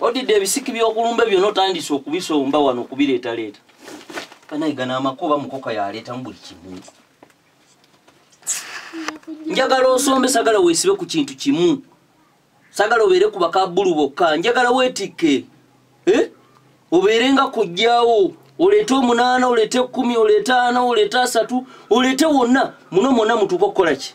odidde ebisiki byokulumba byona otandise okubisomba wano okubireetaleeta kanayiga namakuba mukoka yaleetamu buli kimu njagala osombe sagala wesibe ku kintu kimu sagala obeere ku bakabulu bokka njagala wetikke eh? obeere nga kujjawo oleete omunaana oleete ekumi oleete ana oleete asatu oleete wonna muno mwonna mutuuka okukola ki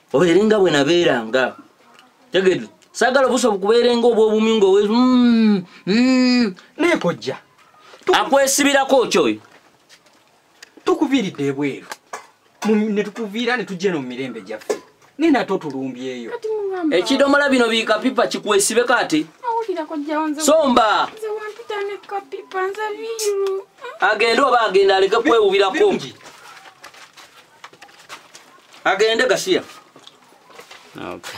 oyo eri nga bwe nabeeranga tegede sagala obuso bukubeerenga obwobumyu nga owe mm, mm. naye kojja akwesibirako okyo oyo tukuviiridde ebweru ne tukuviira ne tujja eno mu mirembe gyaffe naye nate otulumbyeyo ekidomola bino bikapipa kikwesibe kati somba agende oba agenda aleke kwewubirako agende gasiya okay.